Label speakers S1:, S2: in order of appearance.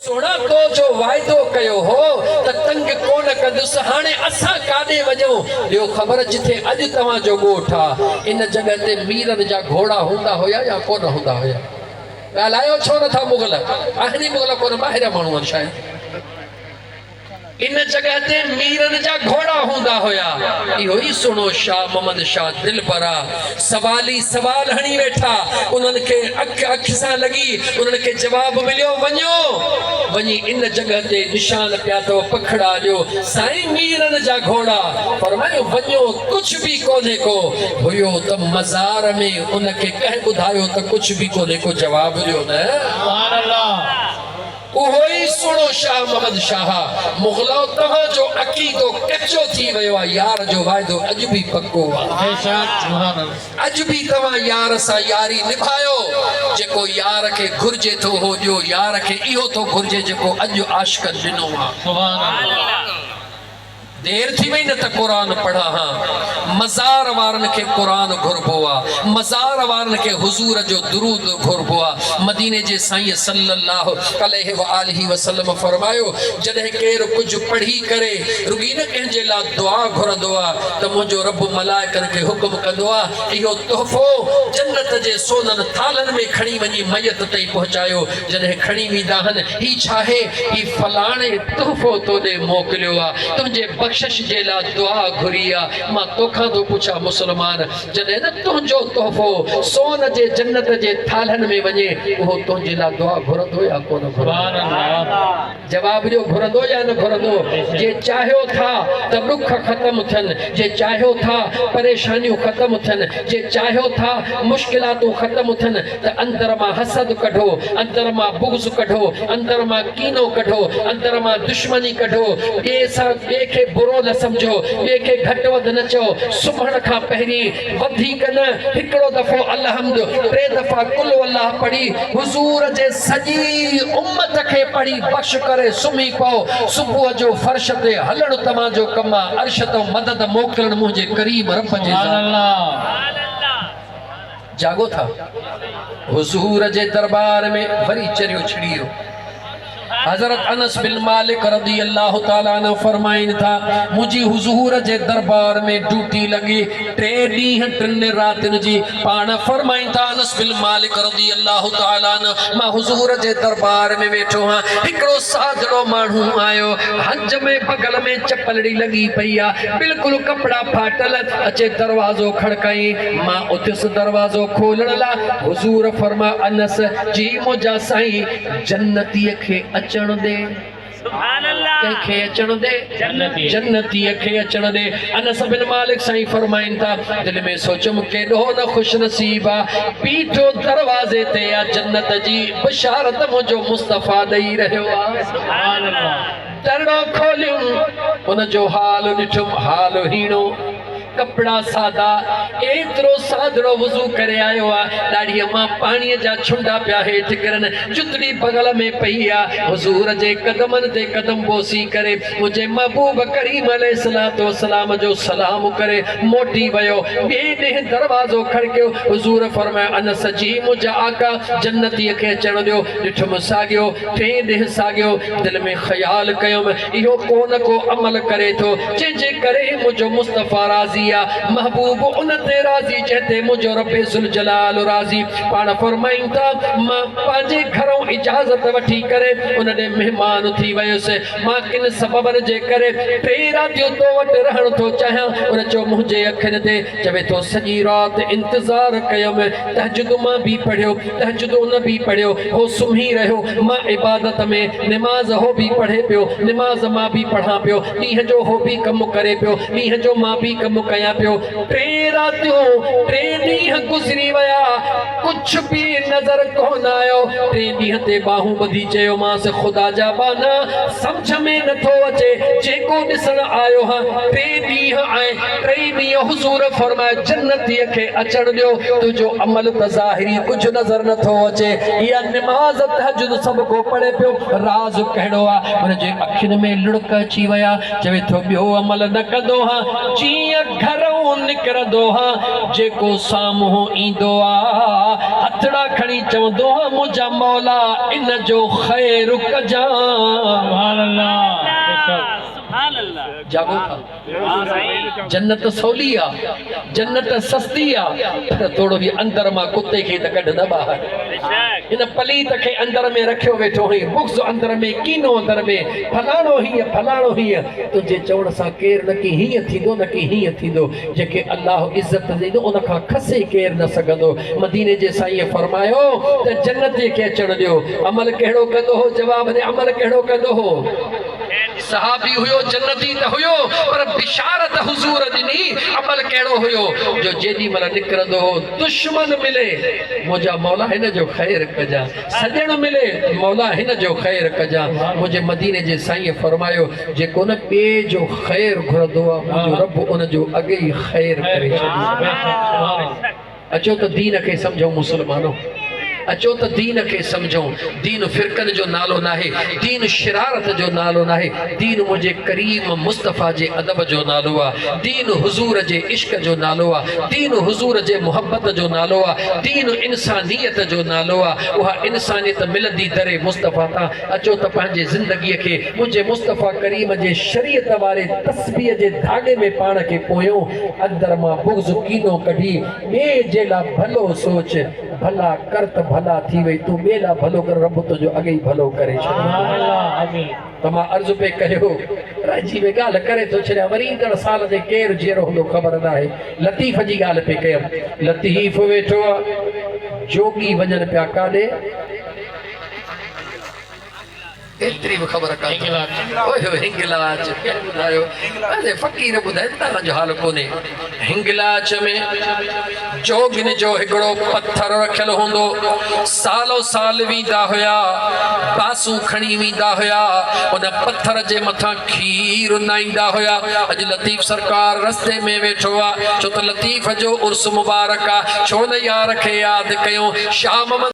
S1: سوڻاڪو جو واعدو ڪيو هو ته تنگ ڪونه ڪندس، هاڻي اسان ڪاڏي وڃون؟ ڏيو خبر جتي اڄ توهان جو ڳوٺ آ، ان جڳهه تي ميرن جا گهوڙا هوندا هيا يا ڪونه هوندا هيا؟ ڳالهايو ڇو نٿا مغل؟ اهڙي مغل ڪونه ٻاهريان ماڻهو آهن شايد. ان جڳهه تي ميرن جا گهوڙا هوندا هيا. اهو ئي سهڻو شاهه محمد شاهه دلبر آ. سوالي سوال هڻي ويٺا. انهن کي اک اک سان لڳي. انهن کي جواب مليو وڃو وڃي ان جڳهه تي نشان پيا اٿو پکڙا ڏيو. سائين ميرن جا گهوڙا. فرمايو وڃو ڪجهه به ڪونهي ڪو. هيو ته مزار ۾ ان کي ڪنهن ٻڌايو ته ڪجهه به ڪونهي ڪو جواب ڏيو نه. اهو ئي سهڻو شاهه محمد شاهه، مغلؤ توهان جو عقيدو ڪچو ٿي ويو آ يار جو واعدو اڄ به پڪو آ. اڄ به توهان يار سان ياري نڀايو جيڪو يار کي گهرجي ٿو اهو ڏيو يار کي اهو ٿو گهرجي جيڪو اڄ عاشقن ڏنو آ. دير ٿي وئي نه ته قرآن پڙهان ها. مزار وارن کي قرآن گهربو آ. مزار وارن کي حضور جو درود گهربو آ. مديني جي سائين صلّي اللّٰه عليه واٰله وسلّم فرمايو، جڏهن ڪير ڪجهه پڙهي ڪري رڳي نه ڪنهن جي لا دعا گهرندو آ ته منهنجو ربّ ملائڪن کي حڪم ڪندو آ، اهو تحفو جنّت جي سونن ٿالهن ۾ کڻي وڃي ميت تائين پهچايو. جڏهن کڻي ويندا هن هي ڇاهي؟ هي فلاڻي تحفو تو ڏي موڪليو آ، تنهنجي بخشش جي لا دعا گهري آ. مان توکان ٿو پڇان مسلمان، جڏهن نه تنهنجو تحفو سون جي جنت جي ٿالهن ۾ وڃي، اهو تنهنجي لا دعا گهرندو يا ڪونه گهرندو؟ جواب ڏيو گهرندو يا نه گهرندو؟ جي چاهيو ٿا ته ڏک ختم ٿين، جي چاهيو ٿا پريشانيون ختم ٿين، جي چاهيو ٿا مشڪلاتون ختم ٿين ته اندر مان حسد ڪڍو، اندر مان بغض ڪڍو، اندر مان ڪينو ڪڍو، اندر مان دشمني ڪڍو، ٻئي سان ٻئي کي برو نه سمجهو، ٻئي کي گهٽ وڌ نه چئو، سمهڻ کان پهرين وڌيڪ نه هڪڙو دفعو الحمد، ٽي دفعا قل والله پڙهي حضور جي سڄي امت کي پڙهي بخش ڪري سمهي پئو، صبح جو فرش تي هلڻ توهان جو ڪم آ، عرش تان مدد موڪلڻ منهنجي ڪريم رب جي ذات آ. جاڳو ٿا حضور جي دربار ۾ وري چريو ڇڙي ويو حضرت انس بن مالڪ رضي الله تعالٰي عنه فرمائن ٿا منهنجي حضور جي دربار ۾ ڊيوٽي لڳي ٽي ڏينهن ٽن راتين جي پاڻ فرمائن ٿا انس بن مالڪ رضي الله تعالٰي عنه مان حضور جي دربار ۾ ويٺو هان هڪڙو سادڙو ماڻهو آيو هنج ۾ بغل ۾ چپلڙي لڳي پئي آ بلڪل ڪپڙا ڦاٽل اچي دروازو کڙڪائين مان اٿيس دروازو کولڻ لا حضور فرما انس جي منهنجا سائين جنتي کي اچڻ ڏي سبحان الله ڪنهن کي اچڻ ڏي جنتي جنتي کي اچڻ ڏي انس بن مالڪ سائين فرمائن ٿا دل ۾ سوچيم ڪيڏو نه خوش نصيب آ بيٺو دروازي تي آ جنت جي بشارت منهنجو مصطفيٰ ڏئي رهيو آ سبحان الله درڙو کوليم ان جو حال ڏٺم حال هيڻو ڪپڙا سادا، ايترو سادڙو وضو ڪري آيو آ، ڏاڙهيء مان پاڻيء جا ڇنڊا پيا هيٺ ڪرن، جتڙي بغل ۾ پئي آ، حضور جي قدمن تي قدم بوسي ڪري، منهنجي محبوب ڪريم عليه الصلوة والسلام جو سلام ڪري موٽي ويو، ٻئي ڏينهن دروازو کڙڪيو، حضور فرمايو، انس جي منهنجا آقا جنتيء کي اچڻ ڏيو، ڏٺم ساڳيو، ٽئين ڏينهن ساڳيو، دل ۾ خيال ڪيم، اهو ڪو نه ڪو عمل ڪري ٿو، جنهن جي ڪري ئي منهنجو مصطفيٰ راضي آ، محبوب ان تي راضي جنهن تي منهنجو ربّ ذوالجلال راضي. پاڻ فرمائن ٿا، مان پنهنجي گهرئون اجازت وٺي ڪري ان ڏي مهمان ٿي ويس، مان ڪن سببن جي ڪري ٽي راتيون تو وٽ رهڻ ٿو چاهيان، ان چيو منهنجي اکين تي، چوي ٿو سڄي رات انتظار ڪيم، تهجد مان به پڙهيو، تهجد ان به پڙهيو، هو سمهي رهيو، مان عبادت ۾، نماز هو به پڙهي پيو، نماز مان به پڙهان پيو، ڏينهن جو هو به ڪم ڪري پيو، ڏينهن جو مان به ڪم ڪيان پيو، ٽئين راتيون، ٽئين ڏينهن گذري ويا، ڪجهه به نظر ڪونه آيو، ٽئين ڏينهن تي ٻانهون ٻڌي چيومانس، خدا جا ٻانها، سمجهه ۾ نٿو اچي، جيڪو ڏسڻ آيو هان، ٽي ڏينهن آء ٽئي ڏينهن حضور فرمايو جنتيء کي اچڻ ڏيو تنهنجو عمل ته ظاهري ڪجهه نظر نه ٿو اچي اها نماز تهجد سڀ ڪو پڙهي پيو راز ڪهڙو آ هن جي اکين ۾ لڙڪ اچي ويا چوي ٿو ٻيو عمل نه ڪندو ها جيئن گهرئون نڪرندو ها جيڪو سامهون ايندو آ هٿڙا کڻي چوندو ها منهنجا مولا ان جو خير ڪجان
S2: سبحان الله
S1: بيشڪ جاڳو ٿا جنت سولي آ جنت سستي آ پر توڙو جي اندر مان ڪتي کي ته ڪڍ نه ٻاهر هن پليت کي اندر ۾ رکيو ويٺو هئين بغض اندر ۾ ڪينو اندر ۾ فلاڻو هيئن فلاڻو هيئن تنهنجي چوڻ سان ڪير نه ڪي هيئن ٿيندو نه ڪي هيئن ٿيندو جيڪي الله عزت ڏنو ان کان کسي ڪير نه سگهندو مديني جي سائين فرمايو ته جنتي کي اچڻ ڏيو عمل ڪهڙو ڪندو هو جواب ڏي عمل ڪهڙو ڪندو هو. صحابي هيو جنتي ته هيو پر بشارت حضور ڏني عمل ڪهڙو هيو جو جيڏي مهل نڪرندو هو دشمن ملي منهنجا مولا هن جو خير ڪجان سڄڻ ملي مولا هن جو خير ڪجان منهنجي مديني جي سائين فرمايو جيڪو نه ٻئي جو خير گهرندو آ منهنجو رب ان جو اڳي ئي خير ڪري ڇڏيندو آ اچو ته دين کي سمجهون مسلمانو اچو ته دين کي سمجهون دين فرقن جو نالو ناهي دين شرارت جو نالو ناهي دين منهنجي ڪريم مصطفيٰ جي ادب جو نالو آ دين حضور جي عشق جو نالو آ دين حضور جي محبت جو نالو آ دين انسانيت جو نالو آ اها انسانيت ملندي در مصطفيٰ تان اچو ته پنهنجي زندگيء کي منهنجي مصطفيٰ ڪريم جي شريعت واري تسبيح جي ڌاڳي ۾ پاڻ کي پويون، اندر مان بغض ڪينو ڪڍي ٻئي جي لا ڀلو سوچ، ڀلا ڪر ته ڀلا ٿي وئي، تون ٻئي لا ڀلو ڪر رب تنهنجو اڳي ئي ڀلو ڪري ڇڏيندو. ته مان عرض پئي ڪيو، رهجي وئي ڳالهه ڪري ٿو ڇڏيان، وري ايندڙ سال تائين ڪير جيئرو هوندو خبر ناهي، لطيف جي ڳالهه پئي ڪيم، لطيف ويٺو آ، جوڳي وڃن پيا ڪاڏي؟ ايتري به خبر ڪا ٿو اوهي اوهي هنگلاج ادي فقير ٻڌائي ته تان جو حال ڪونهي هنگلاج ۾ جوگن جو هڪڙو پٿر رکيل هوندو سالو سال ويندا هيا باسون کڻي ويندا هيا ان پٿر جي مٿان کير نائيندا هيا اڄ لطيف سرڪار رستي ۾ ويٺو آ ڇو ته لطيف جو عرس مبارڪ آ ڇو نه يار کي ياد ڪيون شاهه محمد